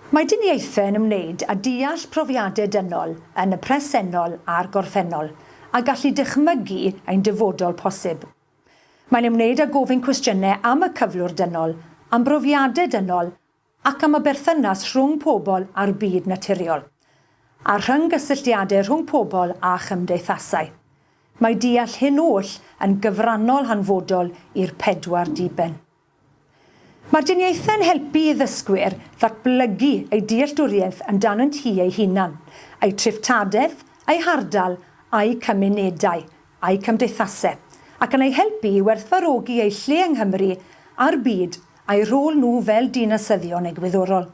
Mae diniaethau yn ymwneud â deall profiadau dynol yn y presennol a'r gorffennol, a gallu dychmygu ein dyfodol posib. Mae'n ymwneud â gofyn cwestiynau am y cyflwr dynol, am brofiadau dynol ac am y berthynas rhwng pobl a'r byd naturiol, a'r rhyng-gysylltiadau rhwng pobl a chymdeithasau. Mae deall hyn oll yn gyfrannol hanfodol i'r pedwar diben. Mae'r diniaethau'n helpu i ddysgwyr ddatblygu eu dealltwriaeth amdanynt hi eu hunan, eu treftadaeth, eu hardal, a'u cymunedau, a'u cymdeithasau, ac yn eu helpu i werthfawrogi eu lle yng Nghymru a'r byd a'u rhôl nhw fel dinasyddion egwyddorol.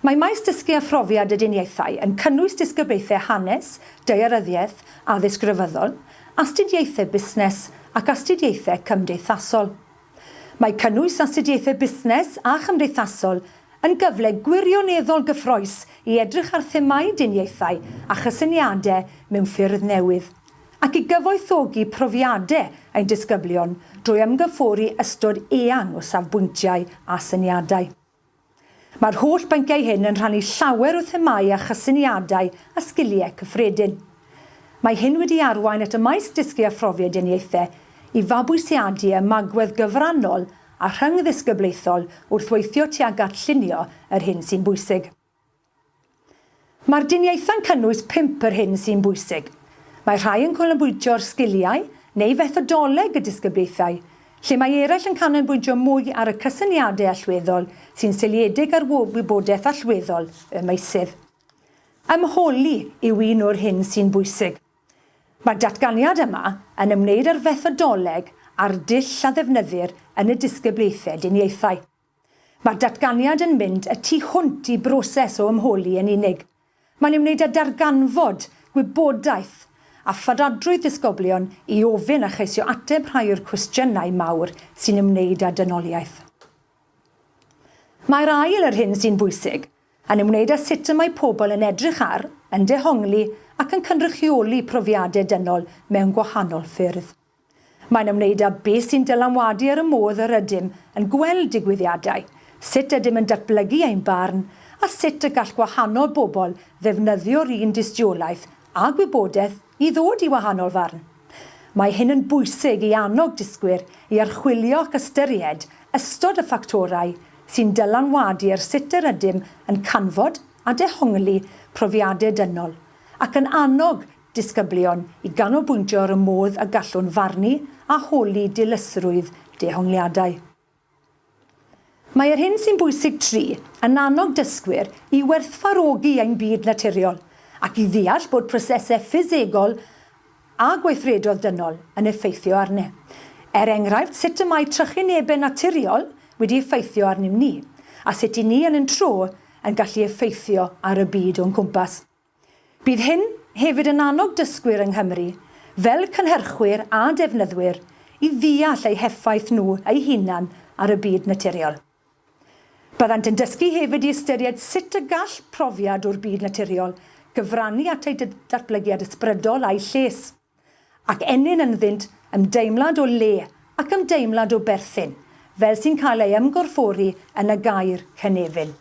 Mae maes dysgu a phrofiad y diniaethau yn cynnwys disgyblaethau hanes, daearyddiaeth, addysg grefyddol, astudiaethau busnes ac astudiaethau cymdeithasol. Mae cynnwys astudiaethau busnes a chymdeithasol yn gyfle gwirioneddol gyffrous i edrych ar themâu diniaethau a chysyniadau mewn ffyrdd newydd, ac i gyfoethogi profiadau ein disgyblion drwy ymgymffori ystod eang o safbwyntiau a syniadau. Mae'r holl bynciau hyn yn rhannu llawer o themâu a chysyniadau a sgiliau cyffredin. Mae hyn wedi arwain at y maes Dysgu a Phrofiadeniaethau i fabwysiadu ymagwedd gyfrannol a rhyngddisgyblaethol wrth weithio tuag at llunio yr hyn sy'n bwysig. Mae'r diniaethau'n cynnwys pump yr hyn sy'n bwysig. Mae rhai yn canolbwyntio'r sgiliau neu fethodoleg y disgyblaethau, lle mae eraill yn canolbwyntio mwy ar y cysyniadau allweddol sy'n seiliedig ar wybodaeth allweddol y meysydd. Ymholi yw un o'r hyn sy'n bwysig. Mae'r datganiad yma yn ymwneud â'r fethodoleg a'r dull a ddefnyddir yn y disgyblaethau diniaethau. Mae'r datganiad yn mynd y tu hwnt i broses o ymholi yn unig. Mae'n ei wneud â darganfod gwybodaeth a pharadrwydd disgyblion i ofyn a cheisio ateb rhai o'r cwestiynau mawr sy'n ymwneud â dynoliaeth. Mae'r ail, yr hyn sy'n bwysig, yn ymwneud â sut y mae pobl yn edrych ar, yn dehongli ac yn cynrychioli profiadau dynol mewn gwahanol ffyrdd. Mae'n ymwneud â beth sy'n dylanwadu ar y modd yr ydym yn gweld digwyddiadau, sut ydym yn datblygu ein barn, a sut y gall gwahanol bobl ddefnyddio'r un dystiolaeth a gwybodaeth i ddod i wahanol farn. Mae hyn yn bwysig i annog dysgwyr i archwilio ac ystyried ystod y ffactorau sy'n dylanwadu ar sut yr ydym yn canfod a dehongli profiadau dynol, ac yn annog disgyblion i ganolbwyntio ar y modd y gallwn farnu a holi dilysrwydd dehongliadau. Mae yr hyn sy'n bwysig tri yn annog dysgwyr i werthfawrogi ein byd naturiol ac i ddeall bod prosesau ffisegol a gweithredoedd dynol yn effeithio arni. Er enghraifft, sut y mae trychinebau naturiol wedi effeithio arnim ni, a sut 'y ni yn ein tro yn gallu effeithio ar y byd o'n cwmpas. Bydd hyn hefyd yn annog dysgwyr yng Nghymru, fel cynhyrchwyr a defnyddwyr, i ddeall eu heffaith nhw eu hunain ar y byd naturiol. Byddant yn dysgu hefyd i ystyried sut y gall profiad o'r byd naturiol gyfrannu at eu datblygiad ysbrydol a'u lles, ac ennyn ynddynt ymdeimlad o le ac ymdeimlad o berthyn, fel sy'n cael ei ymgorffori yn y gair 'cynefin'.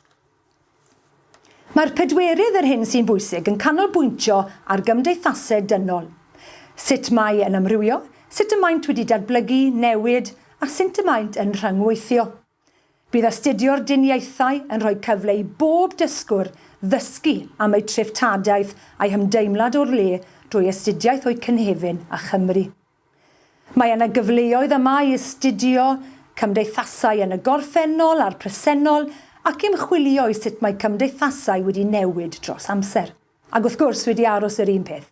Mae'r pedwerydd, yr hyn sy'n bwysig, yn canolbwyntio ar gymdeithaseg dynol, sut mae yn amrywio, sut y maent wedi datblygu, newid, a synt y maent yn rhyngweithio. Bydd astudio'r diniaethau yn rhoi cyfle i bob dysgwr ddysgu am eu treftadaeth a'u hymdeimlad o'r le drwy astudiaeth o'u cynefin a Chymru. Mae yna gyfleoedd yma i astudio cymdeithasau yn y gorffennol a'r presennol ac ymchwilio i sut mae cymdeithasau wedi newid dros amser, ac wrth gwrs wedi aros yr un peth.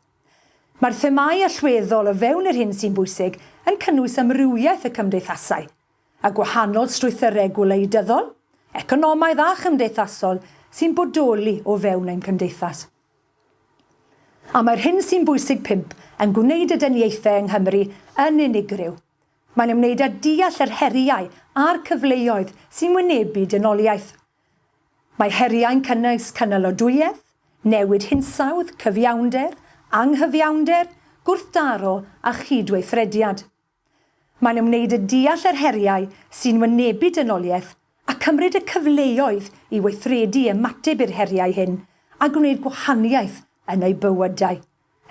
Mae'r themâu allweddol o fewn yr hyn sy'n bwysig yn cynnwys amrywiaeth y cymdeithasau, y gwahanol strwythyrau gwleidyddol, economaidd a chymdeithasol sy'n bodoli o fewn ein cymdeithas. A mae'r hyn sy'n bwysig pump yn gwneud y dyniaethau yng Nghymru yn unigryw. Mae'n ymwneud â deall yr heriau a'r cyfleoedd sy'n wynebu dynoliaeth. Mae heriau'n cynnwys cynalodwyedd, newid hinsawdd, cyfiawnder, anghyfiawnder, gwrthdaro a chyd-weithrediad. Mae'n ymwneud â deall yr heriau sy'n wynebu dynoliaeth a chymryd y cyfleoedd i weithredu i ymateb i'r heriau hyn a gwneud gwahaniaeth yn eu bywydau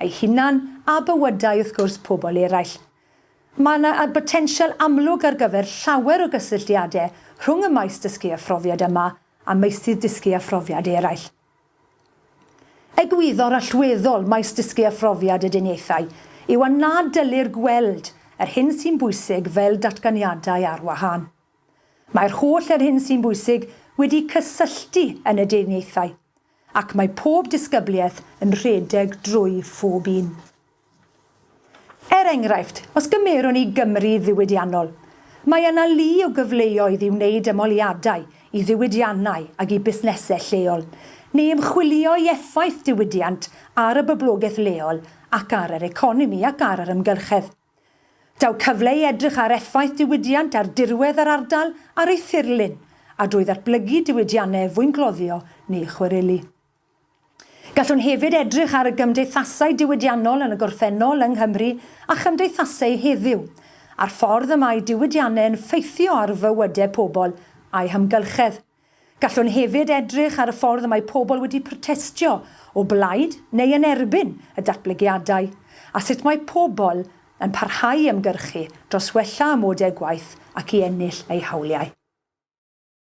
eu hunain a bywydau, wrth gwrs, pobl eraill. Mae yna botensial amlwg ar gyfer llawer o gysylltiadau rhwng y maes dysgu a phrofiad yma a meysydd dysgu a phrofiad eraill. Egwyddor allweddol maes dysgu a phrofiad y duniaethau yw a na dyllir gweld yr hyn sy'n bwysig fel datganiadau ar wahân. Mae'r holl yr hyn sy'n bwysig wedi'u cysylltu yn y duniaethau, ac mae pob disgybliaeth yn rhedeg drwy phob un. Er enghraifft, os gymerwn ni Gymru ddiwydiannol, mae yna lu o gyfleoedd i wneud ymholiadau i ddiwydiannau ac i busnesau lleol, neu ymchwilio i effaith diwydiant ar y boblogaeth leol ac ar yr economi ac ar yr ymgyrchedd. Daw cyfle i edrych ar effaith diwydiant ar dirwedd yr ardal ar ei thirlun a drwy ddatblygu diwydiannau fwyngloddio neu chwareli. Gallwn hefyd edrych ar y gymdeithasau diwydiannol yn y gorffennol yng Nghymru a chymdeithaseu heddiw, a'r ffordd y mae diwydiannau yn ffeithio ar fywydau pobl a'u hamgylchedd. Gallwn hefyd edrych ar y ffordd y mae pobl wedi protestio o blaid neu yn erbyn y datblygiadau, a sut mae pobl yn parhau i ymgyrchu dros wella amodau gwaith ac i ennill eu hawliau.